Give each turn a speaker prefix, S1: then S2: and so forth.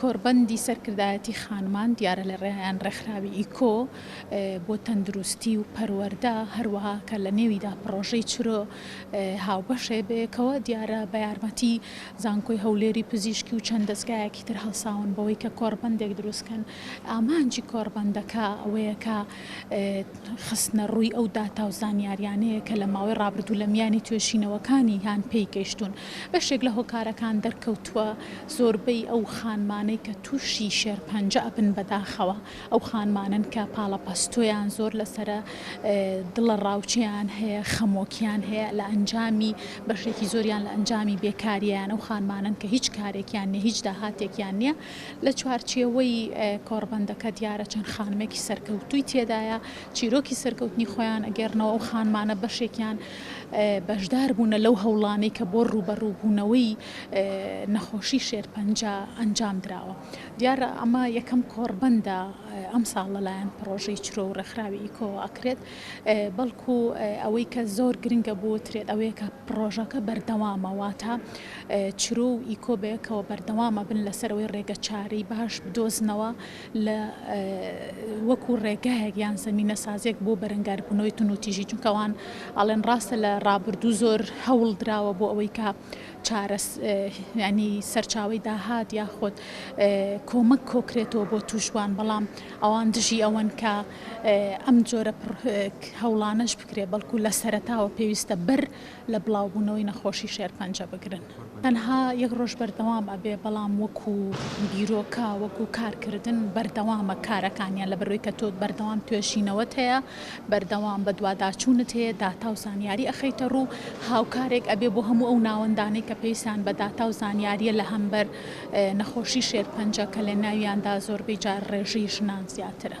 S1: کۆڕبەندی سەرکردایەتی خانمان دیارە لە ڕێیان ڕێکخراوی ئیکۆ بۆ تەندروستی و پەروەردە هەروەها کە لە نێویدا پڕۆژەی چرۆ هاوبەشێ بەیەکەوە دیارە بە یارمەتی زانکۆی هەولێری پزیشکی و چەند دەزگایەکی تر هەڵساون بەوەی کە کۆڕبەندێک دروست کەن ئامانجی کۆڕبەندەکە ئەوەیە کە خستنە ڕووی ئەو داتا و زانیاریانەیە کە لە ماوەی ڕابردوو لە میانی توێشینەوەکانی یان پێی گەیشتون بەشێک لە هۆکارەکان دەرکەوتووە زۆربەی ئەو خانمانەی کە تووشی شێرپەنجە ئەبن بەداخەوە ئەو خانمانەن کە پاڵەپەستۆیان زۆر لەسەرە، دڵەڕاوکێیان هەیە، خەمۆکییان هەیە لە ئەنجامی، بەشێکی زۆریان لە ئەنجامی بێکارییان، ئەو خانمانەن کە هیچ کارێکیان نییە، هیچ داهاتێکیان نییە. لە چوارچێوەی کۆڕبەندەکە دیارە چەند خانمێکی سەرکەوتووی تێدایە، چیرۆکی سەرکەوتنی خۆیان ئەگێڕنەوە، ئەو خانمانە بەشێکیان بەشدار بوونە لەو هەوڵانەی کە بۆ ڕووبەڕووبوونەوەی نەخۆشی شێرپەنجە ئەنجام دراوە. دیارە ئەمە یەکەم کۆڕبەندە ئەمساڵ لەلایەن پڕۆژەی چرۆ و ڕێکخراوی ئیکۆوە ئەکرێت، بەڵکو ئەوەی کە زۆر گرنگە بوترێت ئەوەیە کە پڕۆژەکە بەردەوامە، واتە چرۆ و ئیکۆ بەیەکەوە بەردەوام ئەبن لەسەرەوەی ڕێگەچارەی باش بدۆزنەوە لە وەکو ڕێگایەک یان زەمینەسازیەک بۆ بەرەنگاربونەوەی تونوتیژی چونکەوان ئەڵێن ڕاستە لە ڕابردوو زۆر هەوڵدراوە بۆ ئەوەی کە چارەس یانی سەرچاوەی داهات یاخود کۆمەک کۆکرێتەوە بۆ توشبوان بەڵام ئەوان دژی ئەوەن کە ئەم جۆرە هەوڵانەش بکرێت بەڵکو لە سەرەتاوە پێویستە بەر لە بڵاوبوونەوەی نەخۆشی شێرپەنجە بگرن تەنها یەک ڕۆژ بەردەوام ئەبێ بەڵام وەکو بیرۆکە وەکو کارکردن بەردەوامە کارەکانیان لەبەرەوەی کە تۆ بەردەوام توێژینەوەت هەیە. بەردەوام بەدواداچوونت هەیە داتاو زانیاری ئەخەیتە ڕوو هاوکارێک ئەبێ بۆ هەموو ئەو ناوەندانەی کە پێویستیان بە داتاو زانیاریە لە هەمبەر نەخۆشی شێرپەنجە کە لەناویاندا زۆربەی جار ڕێژەی ژنان زیاترە.